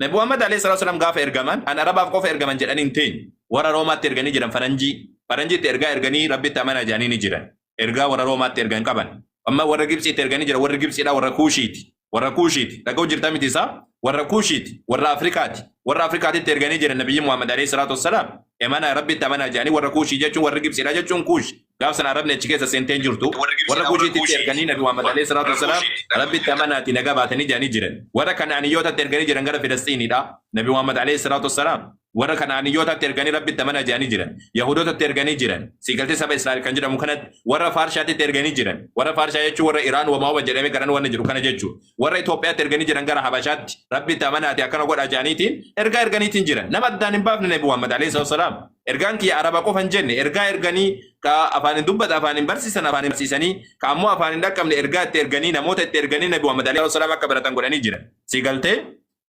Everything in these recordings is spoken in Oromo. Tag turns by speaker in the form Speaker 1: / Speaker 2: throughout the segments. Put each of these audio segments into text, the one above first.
Speaker 1: Nabi Muhammad alayhi salaatu wassalaam gaafa ergaman an Arabaaf qofa ergaman jedhanii hin teenye. Warra Roomaatti erganii jiran faranjii. Faranjiitti ergaa erganii Rabbitti amanaa jedhanii ni jiran. Ergaa warra Roomaatti ergan qaban. Amma warra Gibtsiitti erganii jiran warri Gibtsiidhaa warra Kuushiiti. Warra Kuushiiti. Dhaga'u jirta miti isaa? Warra Kuushiiti. Warra Afrikaati. Warra Afrikaatitti erganii jiran Nabiyyi Muhammad alayhi salaatu wassalaam. Emanaa Rabbitti amanaa jedhanii warra Kuushii jechuun warri Gibtsiidhaa jechuun Kuushi. Gaaf sana Arabni achi keessa seentee hin jirtu. Warra Kuushiititti erganii Nabi Muhammad Aleyh Salaatu Wassalaam Rabbitti amanaatii nagaa baatanii jedhanii jiran. Warra Kana'aniyyootatti erganii jiran gara Filasxiiniidha. Nabi Muhammad Aleyh Salaatu Wassalaam warra Kana'aniyyootaatti erganii Rabbitti amanaa jedhanii jiran. Yahuudotatti erganii jiran. Siigaltee saba Israa'el kan jedhamu kanatti warra Faarshaatitti erganii jiran. Warra Faarshaa jechuun warra Iraan wama wama jedhamee garan wanna jedhu kana jechuu. Warra Itoophiyaatti erganii jiran gara Habashaatti Rabbitti amanaatii akkana godhaa jedhaniitiin ergaa erganiitiin jiran. Nama addaan hin baafne Nabi Muhammad Aleyh Salaatu Wassalaam. Ergaan kiyya araba qofa hin jenne ergaa erganii ka afaan hin dubbata afaan hin barsiisan afaan hin barsiisanii ka ammoo afaan hin dhaqqabne ergaa itti erganii namoota itti erganii nabi Muhammad alayhi wasalaam akka baratan godhanii jiran. Si galtee?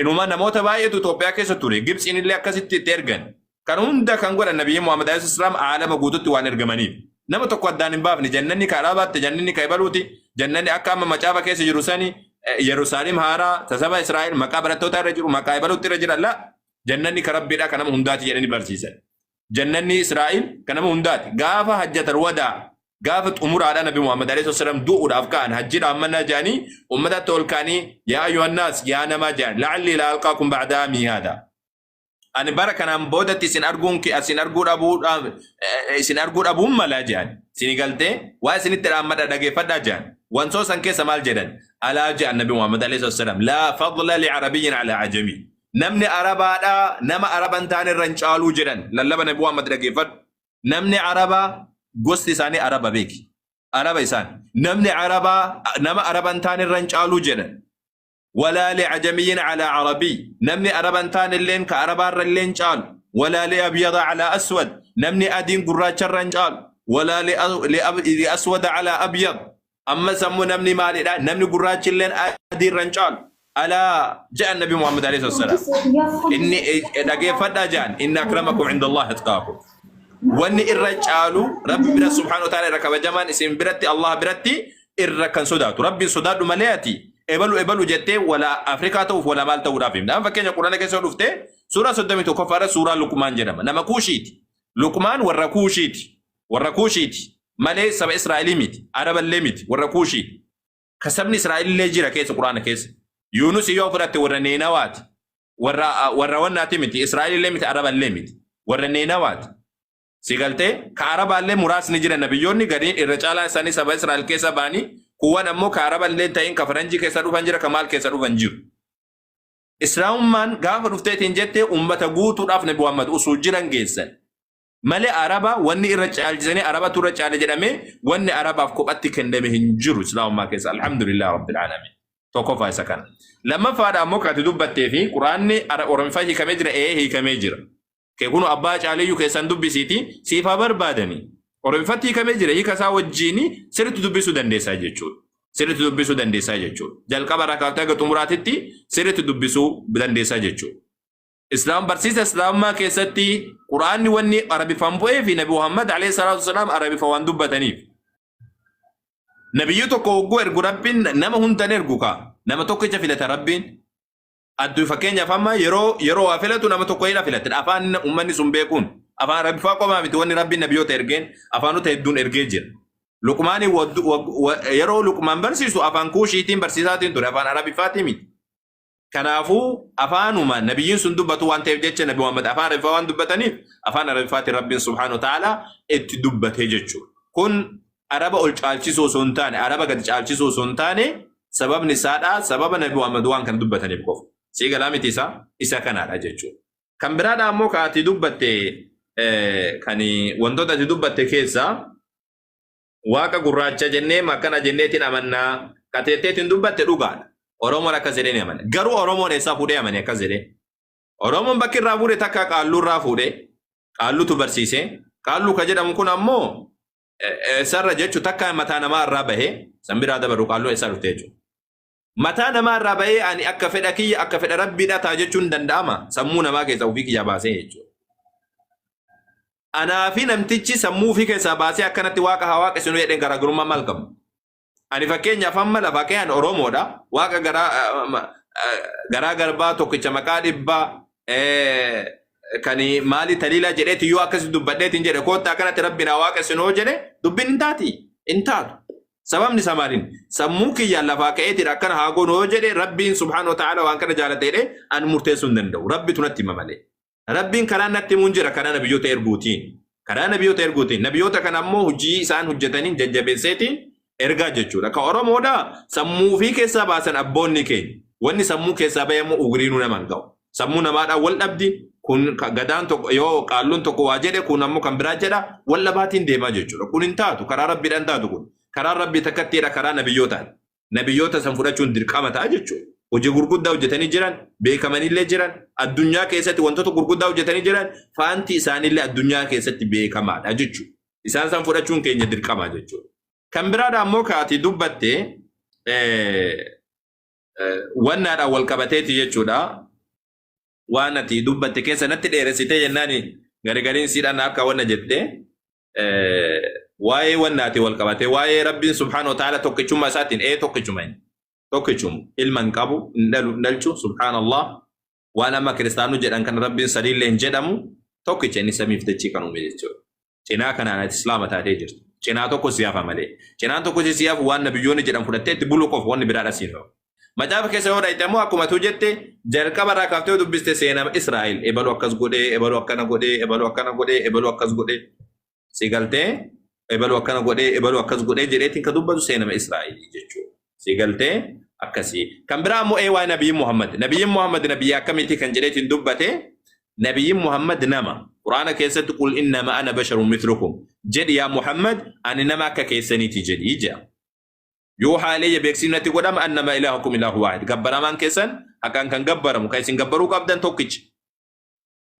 Speaker 1: Inuma namoota baay'eetu Itoophiyaa keessa ture Gibtsiin illee akkasitti itti ergan. Kan hunda kan godhan nabiyyi Muhammad alayhi wasalaam aalama guututti waan ergamaniif. Nama tokko addaan hin baafne jannanni ka araabaatti jannanni ka ibaluuti jannanni akka amma macaafa keessa jiru sani Yerusaalem haaraa tasaba Israa'el maqaa barattootaa irra jiru maqaa ibaluutti irra jira la Jannanni ka Rabbiidha ka nama hundaati jedhanii barsiisan. Jannanni Israa'il ka nama hundaati. Gaafa hajjatal wadaa gaafa xumuraadha Nabi Muhammad alayhi wasallam du'uudhaaf ka'an hajjiidhaaf mannaa jedhanii ummataatti ol ka'anii yaa ayyuhannaas yaa namaa jedhan la'allii laa alqaakum ba'daa amii haadaa. Ani bara kanaan boodatti isin arguun kee isin arguu dhabuu dhaab- eh, isin arguu dhabuun malaa jedhan. Isin galtee waa isinitti dhaammadha dhageeffadhaa jedhan. Wansoo san keessa maal jedhan? Alaa jedhan Nabi Muhammad alayhi wasallam laa fadla li arabiyyin alaa ajamii. namni arabaadha nama araba hin taane irra hin caaluu jedhan lallaba nabi muhammad dhageeffadhu namni arabaa gosti isaanii araba beeki araba isaan namni arabaa nama araba hin taane irra hin caaluu jedhan walaa li'ajamiyyin alaa arabii namni araba hin taane illeen ka arabaa irra illee hin caalu walaa li'abyada alaa aswad namni adiin gurraacha irra hin caalu walaa li'aswada alaa abyad Ammas ammoo namni maalidha? Namni gurraachi illeen adii irra hin caalu. Alaa ja'an Nabi Muhammad alayhi salatu wassalam. Inni eh, dhageeffadhaa ja'an. Inna akramakum inda Allah atqaakum. Wanni irra caalu Rabbi bira subhaanahu wa ta'ala irra kabajamaan isin biratti Allah biratti irra kan sodaatu. Rabbiin sodaadhu malee ati ebalu ebalu jettee wala Afrikaa ta'uuf wala maal ta'uudhaaf himna. Amma fakkeenya Qur'aana keessa yoo dhufte suuraa 31 faara suuraa Luqmaan jedhama. Nama Kuushiiti. Luqmaan warra Kuushiiti. warra Kuushiiti, malee saba Israa'elii miti, Araba illee miti, warra Kuushiiti. Ka sabni Israa'el illee jira keessa Qur'aana keessa. Yuunusi yoo fudhatte warra Neenawaati. Warra, warra wannaati miti, Israa'el illee miti, Araba illee miti. Warra Neenawaati. Si galtee? Ka Arabaa illee muraasni jira nabiyyoonni gariin irra caalaan isaanii saba Israa'el keessa ba'anii, kuuwwan ammoo ka Araba illee hin ta'in ka Faranjii keessa dhufan jira, ka maal keessa dhufan jiru. Islaamummaan gaafa dhufteetiin jette ummata guutuudhaaf Nabi Muhammad usuu jiran geessan. malee araba wanni irra caalchisanii arabatu irra caale jedhamee wanni arabaaf kophatti kenname hin jiru islaamummaa keessa alhamdulillah rabbil alamin tokkoffaa isa kana lammaffaadha ammoo kati dubbattee fi quraanni ara- oromiffaa hiikamee jira ee hiikamee jira kee kunu abbaa caaliyyuu keessan dubbisiiti siif haa barbaadani oromiffatti hiikamee jira hiika isaa wajjiini sirritti dubbisuu dandeessaa jechuudha sirritti dubbisuu dandeessaa jechuudha jalqaba irraa kaaftee haga xumuraatitti sirritti dubbisuu dandeessaa jechuudha Islaam barsiisa Islaamummaa keessatti Qur'aanni wanni Arabifaan bu'ee fi Nabi Muhammad alayhi salaatu wasalaam Arabifa waan dubbataniif. Nabiyyu tokko hogguu ergu Rabbiin nama hundan ergu kaa. Nama tokkicha filata Rabbiin. Adduu fakkeenyaaf amma yeroo yeroo waa filatu nama tokko ila filate. Afaan uummanni sun beekuun. Afaan Arabifaa qofaa miti wanni Rabbiin nabiyyoota ergeen afaanota hedduun ergee jira. Luqmaani waddu- wa- wa- yeroo Luqmaan barsiisu afaan kuushiitiin barsiisaatiin ture afaan Arabifaatii miti. Kanaafuu afaanuma nabiyyiin sun dubbatu waan ta'eef jecha nabi Muhammad afaan Arabiffaa waan dubbataniif afaan Arabiffaatiin Rabbiin subhaanahu wa ta'aalaa itti dubbatee jechuudha. Kun Araba ol caalchisuu osoo hin taane Araba gadi caalchisuu osoo hin taane sababni isaadha sababa nabi Muhammad waan kana dubbataniif qofa. Sii galaa miti isaa isa kanaadha jechuudha. Kan biraadha ammoo kan ati dubbatte eh, kan wantoota ati dubbatte keessaa Waaqa gurraacha jennee akkana jenneetiin amannaa qateetteetiin dubbatte dhugaadha. Oromoon akkas jedhee ni amana. Garuu Oromoon eessaa fuudhee amane akkas jedhee. Oromoon bakki irraa fuudhe takka qaalluu irraa fuudhe. Qaalluutu barsiise. Qaalluu ka jedhamu kun ammoo eh, eh, eessarra jechu takka mataa namaa irraa bahe san biraa dabaru qaalluu eessaa dhufte jechuudha. Mataa namaa irraa ba'ee ani akka fedha kiyya akka fedha rabbiidha ta'a jechuun danda'ama sammuu namaa keessaa ofii kiyyaa baasee jechuudha. Anaa fi namtichi sammuu ofii keessaa baasee akkanatti waaqa haa waaqessinu jedheen garaagarummaa maal qabu? Ani fakkeenyaaf amma lafa kee ani Oromoodha. Waaqa garaa eh, ma- eh, garaa garbaa tokkicha maqaa dhibbaa eh, kan maali taliilaa jedheeti yoo akkasi dubbadheetiin jedhe koottaa kanatti rabbiin haa waaqessinu yoo jedhe dubbiin hin taati. Hin taatu. Sababni isaa maaliin? Sammuun kiyyaan lafaa ka'eetidha akkana haa goonu yoo jedhe Rabbiin subhaanahu wa ta'aala waan kana jaalate jedhee an murteessuu hin danda'u. Rabbitu natti hima malee. Rabbiin karaan natti himuun jira karaa nabiyyoota erguutiin. Karaa nabiyyoota erguutiin. Nabiyyoota kana ammoo hojii isaan hojjetaniin jajjabeesseetiin ergaa jechuudha. Ka Oromoodha sammuu ofii keessaa baasan abboonni keenya. Wanni sammuu keessaa bahe ammoo ugriinuu nama hin ga'u. Sammuu namaadhaan wal dhabdi. Kun gadaan tokko yoo qaalluun tokko waa jedhe kun ammoo kan biraa jedha wal dhabaatiin deemaa jechuudha. Kun hin taatu karaa rabbiidhaan taatu kun. Karaa rabbii takkattiidha karaa nabiyyootaati. Nabiyyoota san fudhachuun dirqama ta'a jechuudha. Hojii gurguddaa hojjetanii jiran beekamanillee jiran addunyaa keessatti wantoota gurguddaa hojjetanii jiran faanti isaanillee addunyaa keessatti beekamaadha jechuudha. Isaan san fudhachuun keenya dirqama jechuudha. Kan biraadha ammoo kaati dubbatte wannaadhaan wal qabateeti jechuudha. Waan ati dubbatte keessa natti dheeressitee jennaan garigariin siidhaan akka wanna jette waa'ee wannaati wal qabatee waa'ee rabbiin subhaana wa ta'ala tokkichummaa isaatiin ee tokkichuma tokkichuma ilma hin qabu hin dhalu hin dhalchu subhaanallah waan amma kiristaanuu jedhan kan rabbiin sadiillee hin jedhamu tokkicha inni samiif dachii kan uume jechuudha. Cinaa kanaan ati islaama taatee jirtu. Cinaa tokko si hafa malee. Cinaan tokko si hafu waan nabiyyoonni jedhan fudhattee itti buluu qofa wanni biraadha siin hafu. Macaafa keessa yoo dhayte immoo akkuma tuu jette jalqaba irraa kaaftee yoo dubbiste seenama Israa'el ebaluu akkas godhee ebaluu akkana godhee ebaluu akkana godhee ebaluu akkas godhee Si galtee ebalu akkana godhee ebalu akkas godhee jedheetiin ka dubbatu seenama Israa'elii jechuudha. Si galtee akkasii. Kan biraa immoo ee waa'ee Nabiyyi Muhammad. Nabiyyi Muhammad nabiyyi akkamiitii kan jedheetiin dubbate Nabiyyi Muhammad nama. Quraana keessatti qul innama ana basharun mitlukum. Jedhi yaa Muhammad ani nama akka keessaniiti jedhi jedha. yoo haaleeyya beeksifni natti godhama annama ilaahukum ilaahu waahid gabbaramaan keessan haqaan kan gabbaramu kan isin gabbaruu qabdan tokkicha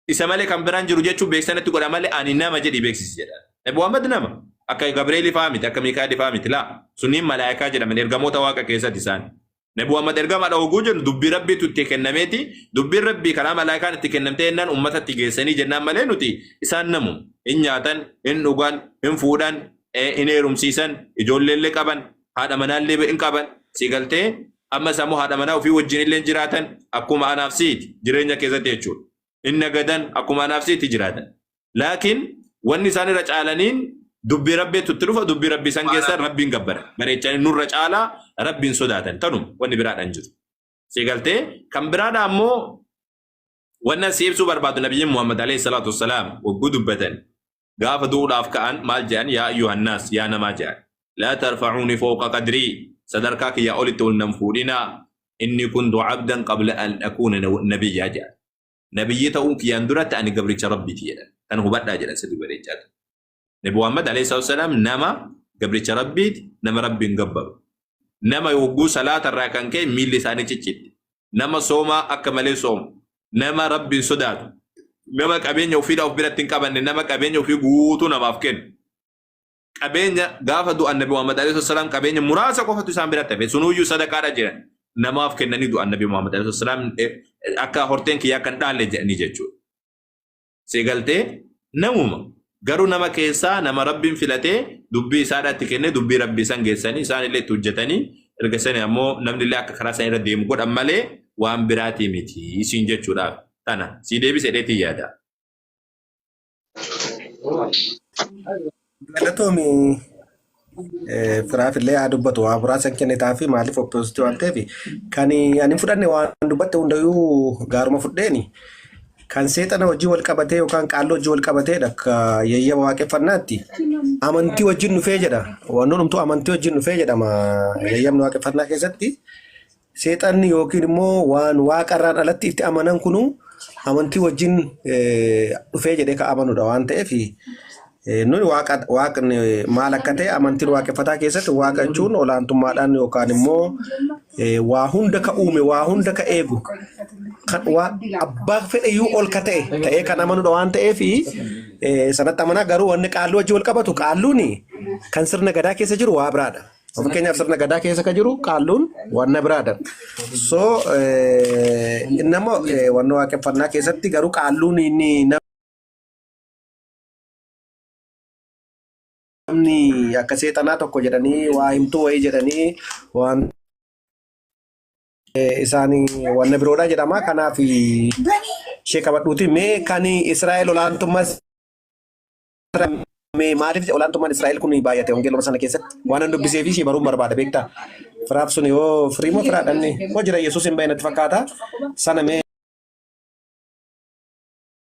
Speaker 1: Isa malee kan biraan jiru jechuun beeksisanatti godha malee ani nama jedhi beeksisi jedha. Nabi Muhammad nama. Akka Gabreelii fa'aa miti, akka Miikaa'elii fa'aa miti. Laa, sunniin malaayikaa jedhaman ergamoota waaqa keessatti isaan. Nabi Muhammad ergamaadha oguu jennu dubbii rabbiitu itti kennameeti. Dubbiin rabbii karaa malaayikaan itti kennamtee jennaan uummatatti geessanii jennaan malee nuti isaan namu. Hin nyaatan, hin dhugan, hin fuudhan, eh, hin heerumsiisan, ijoolleellee qaban, haadha manaallee hin qaban si galtee amma isaa immoo haadha manaa ofii wajjin illee jiraatan akkuma anaaf siiti jireenya keessatti jechuudha. Hin nagadan akkuma anaaf siiti jiraatan. Laakiin wanni isaan irra caalaniin dubbii rabbiitu itti dhufa dubbii rabbii san keessan rabbiin gabbara. Bareechanii nurra caalaa rabbiin sodaatan tanuma wanni biraadhaan jiru. Si galtee kan biraadhaa immoo wannan si ibsuu barbaadu nabiyyiin Muhammad alayhi salaatu wassalaam wagguu dubbatan gaafa du'uudhaaf ka'an maal jedhan yaa ayyuhannaas yaa namaa jedhan laa tarfacuuni fooqa qadrii sadarkaa kiyyaa olitti ol nan fuudhinaa inni kuntu cabdan qabla an akuuna nabiyyaa jedhan nabiyyii ta'uun kiyyaan duratti ani gabricha rabbiiti jedhan kan hubadhaa jedhan sirri bareechaa ta'e nabi muhammad alayhi salaatu wasalaam nama gabricha rabbiiti nama rabbiin gabbaru nama yogguu salaata irraa kan ka'e miilli isaanii ciccitti nama soomaa akka malee soomu nama rabbiin sodaatu nama qabeenya ofiidhaa of biratti hin qabanne nama qabeenya ofii guutuu namaaf kennu qabeenya gaafa du'an nabi Muhammad alayhi salaam qabeenya muraasa qofatu isaan biratti hafe sunuyyuu sadaqaadha jedhan namaaf kennanii du'an nabi Muhammad alayhi salaam akka horteen kiyyaa kan dhaalle jedhanii jechuudha. si galtee namuma garuu nama keessaa nama rabbiin filatee dubbii isaadhaatti kennee dubbii rabbii san geessanii isaan illee itti hojjetanii erga sani ammoo namni illee akka karaa san irra deemu godhan malee waan biraatii miti isiin jechuudhaaf tana sii deebise dheetii yaada.
Speaker 2: Galatoomi eh, firaaf illee haa dubbatu waa muraasan kennitaa fi maaliif oppoositii waan ta'eef kan ani hin fudhanne waan dubbatte hundayyuu gaaruma fudheeni kan seexana hojii wal qabatee yookaan qaalloo hojii wal qabateedha akka yayyaba waaqeffannaatti amantii wajjin dhufee jedha waan hundumtuu amantii wajjin dhufee jedhama yayyabni waaqeffannaa keessatti Seexanni yookiin immoo waan waaqa irraan alatti itti amanan kunu amantii wajjin eh, dhufee jedhee ka amanudha waan ta'eef eh, nuyi waaqa waaqni maal akka ta'e amantiin waaqeffataa keessatti waaqa jechuun olaantummaadhaan yookaan immoo eh, waa hunda ka uume waa hunda ka eegu kan waa abbaa fedhayyuu ol ka ta'e ta'ee kan amanudha waan ta'eef eh, sanatti amanaa garuu wanni qaalluu wajjin wal qabatu qaalluuni kan sirna gadaa keessa jiru waa biraadha. Of keenyaaf sirna gadaa keessa ka jiru qaalluun wanna biraadha. So inni ammoo wanna waaqeffannaa keessatti garuu qaalluun inni namni akka seexanaa tokko jedhanii waa himtuu wayii jedhanii waan isaan wanna biroodha jedhama. Kanaaf ishee qabadhuuti mee kan Israa'el olaantummaa Mee maaliif olaantummaan Israa'el kun baay'ate wangeeluma sana keessatti? Waan an dubbisee fi ishee baruun barbaada beektaa? Firaaf sun yoo firii moo firaa dhabne? Moo jira Yesuus hin bahe natti fakkaata. Sana mee